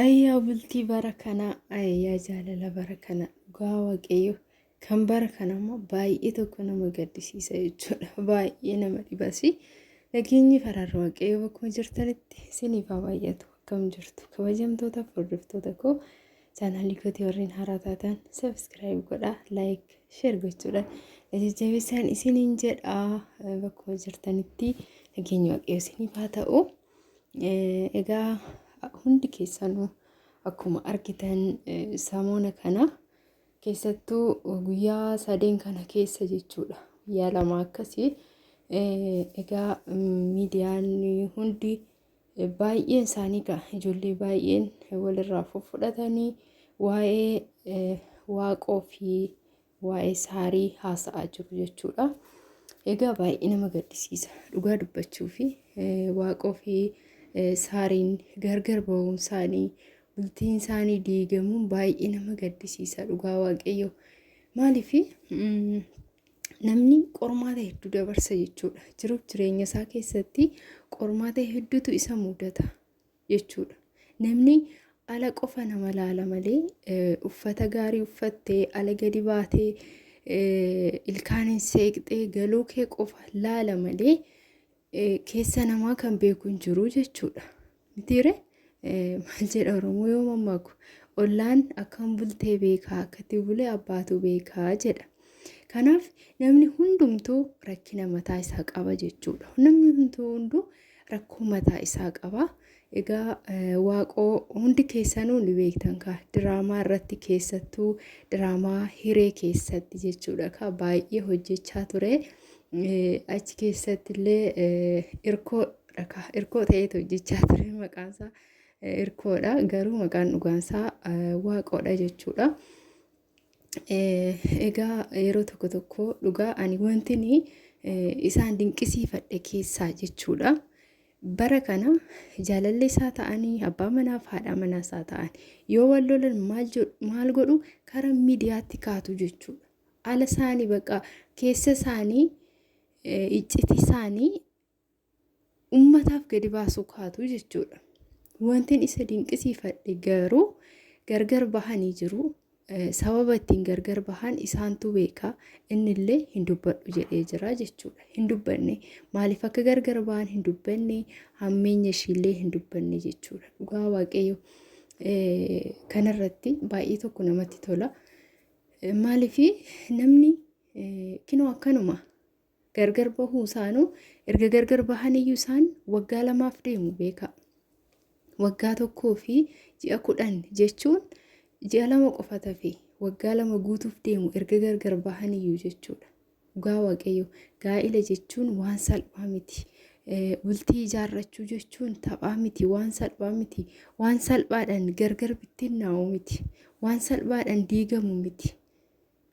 Ayyaa bultii bara kanaa ayyaa jaalala bara kana dhugaa waaqayyo kan bara kana immoo baay'ee tokko nama gaddisiisa jechuudha baay'ee nama dhibasi nageenyi faraarri waaqayyo bakkuma jirtanitti isiniif haa baay'atu akkam jirtu kabajamtoota hordoftoota koo chaanaalii kootii warreen haaraa taatan sabiskiraayib godhaa laayik sheer gochuudhaan na jajjabeessaan isiniin jedhaa bakkuma jirtanitti nageenyi waaqayyo isiniif haa ta'u. Eh, Egaa hundi keessanuu akkuma argitan eh, samoona kana keessattuu guyyaa sadeen kana keessa jechuudha. Guyyaa lama akkasii eh, egaa mm, miidiyaan hundi eh, baay'een isaanii gaa ijoollee baay'een walirraa fudhatanii waa'ee eh, waaqoo fi waa'ee saarii haasa'aa jiru jechuudha. Egaa baay'ee nama gaddisiisa. Dhugaa dubbachuu fi waaqoo fi saariin gargar ba'uun isaanii bultiin isaanii diigamuun baay'ee nama gaddisiisa dhugaa waaqayyo. Maaliif namni qormaata hedduu dabarsa jechuudha. Jiruuf jireenya isaa keessatti qormaata hedduutu isa mudata. jechuudha. Namni ala qofa nama laala malee eh, uffata gaarii uffattee ala gadi baatee eh, ilkaan hin seeqxee galuu kee qofa laala malee eh, keessa namaa kan beeku hin jiru jechuudha. Mitiire eh, maal jedha Oromoo yoo mammaaku ollaan akkam bultee beekaa akkatti bulee abbaatu beekaa jedha. Kanaaf namni hundumtuu rakkina mataa isaa qaba jechuudha. Namni hundumtuu hunduu rakkoo mataa isaa qaba. Egaa waaqoo hundi keessanuu ni beektan kaa diraamaa irratti keessattuu diraamaa hiree keessatti jechuudha kaa baay'ee hojjechaa ture. Achi keessatti illee irkoo dhakaa irkoo ta'eet hojjechaa ture maqaansaa irkoodha garuu maqaan dhugaansaa waaqoodha jechuudha. Egaa yeroo tokko tokko dhugaa ani wantini isaan dinqisiifadhe keessaa jechuudha. Bara kana jaalallee isaa ta'anii abbaa manaaf haadha manaa isaa ta'an yoo wal lolan maal godhu karaa miidiyaatti kaatu jechuudha. Ala isaanii baqa keessa isaanii iccitii isaanii ummataaf gadi baasuu kaatu jechuudha. Wantin isa dinqisiifadhe garuu gargar bahanii jiru. Sababa ittiin gargar bahan isaantu beeka. Innillee hin dubbadhu jedhee jira jechuudha. Hin dubbanne. Maaliif akka gargar bahan hin dubbanne. Hammeenya ishiillee hin dubbanne jechuudha. Dhugaa waaqayyo kanarratti baay'ee tokko namatti tola. Maaliif namni kinoo akkanuma Gargar bahuu isaanuu erga gargar bahaniyyuu isaan waggaa lamaaf deemu beekaa. Waggaa tokkoo fi ji'a kudhan jechuun ji'a lama qofa tafe waggaa lama guutuuf deemu erga gargar bahaniyyuu jechuudha. Dhugaa waaqayyo gaa'ila jechuun waan salphaa miti. Bultii ijaarrachuu jechuun taphaa miti waan salphaa miti. Waan salphaadhaan gargar bittinnaa'u miti. Waan salphaadhaan diigamu miti.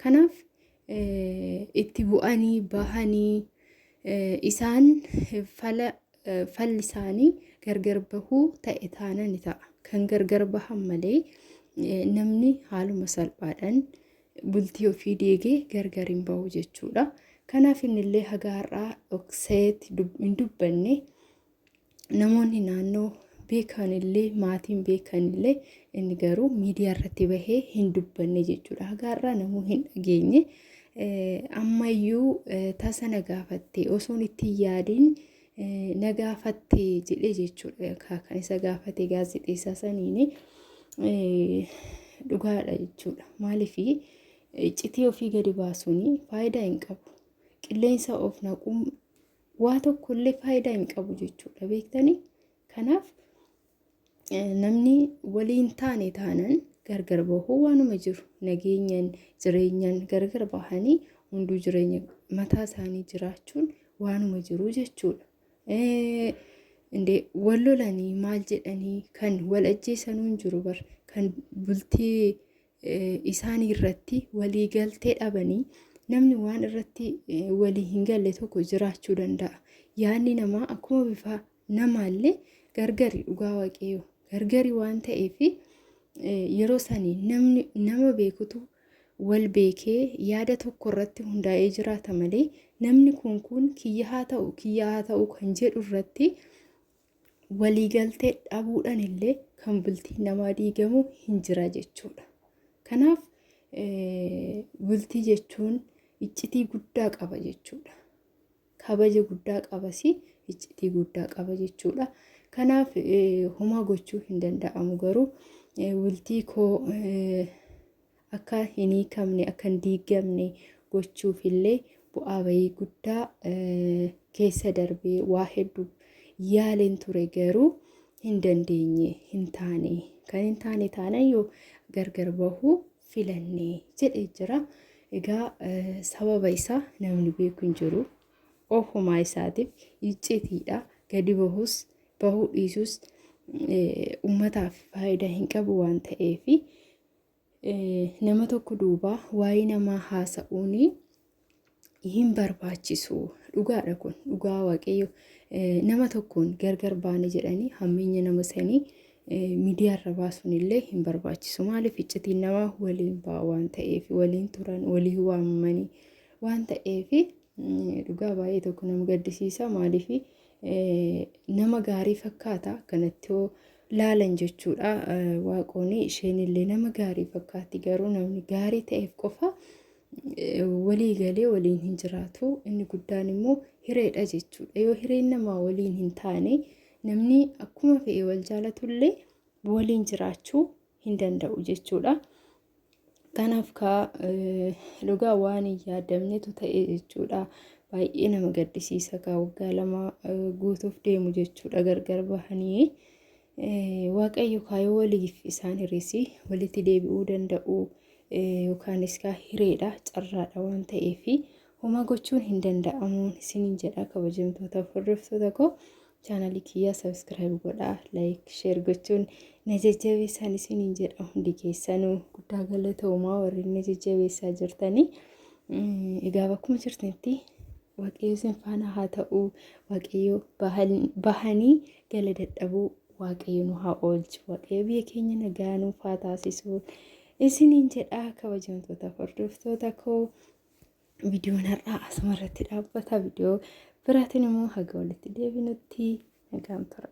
Kanaaf itti bu'anii bahanii isaan fala falli isaanii gargar bahuu ta'e taana ni ta'a. Kan gargar bahan malee namni haaluma salphaadhaan bultii ofii deegee gargar hin bahu jechuudha. Kanaaf innillee haga har'aa dhokseet hin dubbanne namoonni naannoo beekan illee maatiin beekan illee inni garuu miidiyaa irratti bahee hin dubbanne jechuudha. Hagaarraa namuu hin dhageenye ammayyuu tasa na gaafatte osoon itti yaadin na gaafatte jedhee jechuudha. Kan isa gaafate gaazexeessaa saniini dhugaadha jechuudha. Maaliif iccitii ofii gadi baasuun faayidaa hin qabu. Qilleensa of naquun waa tokko illee faayidaa hin qabu jechuudha beektanii kanaaf namni waliin taane taanan gargar bahuu waanuma jiru nageenyan jireenyan gargar bahanii hunduu jireenya mataa isaanii jiraachuun waanuma jiru jechuudha. Indee wal lolanii maal jedhanii kan wal ajjeesanuu hin jiru bar kan bultii isaanii irratti walii galtee dhabanii namni waan irratti walii hin galle tokko jiraachuu danda'a. Yaadni namaa akkuma bifa namaallee gargari dhugaa waaqayyoo gargari waan ta'eef yeroo sanii namni nama beekutu wal beekee yaada tokko irratti hundaa'ee jiraata malee namni kun kun kiyya haa ta'u kiyya haa ta'u kan jedhu irratti waliigaltee dhabuudhaan illee kan bultiin namaa diigamu hin jira jechuudha. Kanaaf bultii jechuun iccitii guddaa qaba jechuudha. Kabaja guddaa qabas iccitii guddaa qaba jechuudha. Kanaaf homaa gochuu hin danda'amu garuu bultii koo akka hin hiikamne, akka hin diigamne gochuuf illee bu'aa bayii guddaa keessa darbee waa hedduu yaaleen ture garuu hin dandeenye hin taane kan hin taane taana yoo gargar bahuu filanne jedhee jira. Egaa sababa isaa namni beeku hin jiru. Ofumaa isaatiif iccitiidha. Gadi bahus bahuu dhiisus uummataaf faayidaa hin qabu waan ta'eefi. Nama tokko duuba waa'ee namaa haasa'uun hin barbaachisu. Dhugaadha kun dhugaa waaqayyo nama tokkoon gargar baane jedhanii hammeenya nama sanii miidiyaarra baasuun illee hin barbaachisu. Maaliif iccitiin namaa waliin ba'a waan ta'eef waliin turan walii waamanii waan ta'eef dhugaa baay'ee tokko nama gaddisiisa maaliif Nama gaarii fakkaata kanatti hoo laalan jechuudha waaqooni isheenillee nama gaarii fakkaatti garuu namni gaarii ta'eef qofa walii galee waliin hin jiraatu inni guddaan immoo hireedha jechuudha yoo hireen namaa waliin hin taane namni akkuma fe'e wal jaalatullee waliin jiraachuu hin danda'u jechuudha Kanaaf kaa dhugaa waan hin yaadamnetu ta'e jechuudha. Baay'ee nama gaddisiisa kaa waggaa lama guutuuf deemu jechuudha gargar bahanii. Waaqayyo kaayoo waliif isaan hir'isi walitti deebi'uu danda'u yookaanis kaa hireedha carraadha waan ta'eef homaa gochuun hin danda'amuun isiniin jedha kabajamtoota hordoftoota koo. Chaanalii kiyya subscribe godhaa, like, share gochuun na jajjabeessaan isiniin jedha hundi keessanuu guddaa galatoomaa warri na jajjabeessaa jirtanii. Egaa bakkuma jirtanitti waaqayyo isin faana haa ta'u, waaqayyo bahanii gala dadhabuu waaqayyo nu haa oolchu, waaqayyo biyya keenya nagaa nuuf haa taasisu isiniin jedha kabajamtoota hordoftoota koo. viidiyoon har'aa asuma irratti dhaabbata viidiyoo biraatiin immoo haga walitti deebinutti nagaan tura.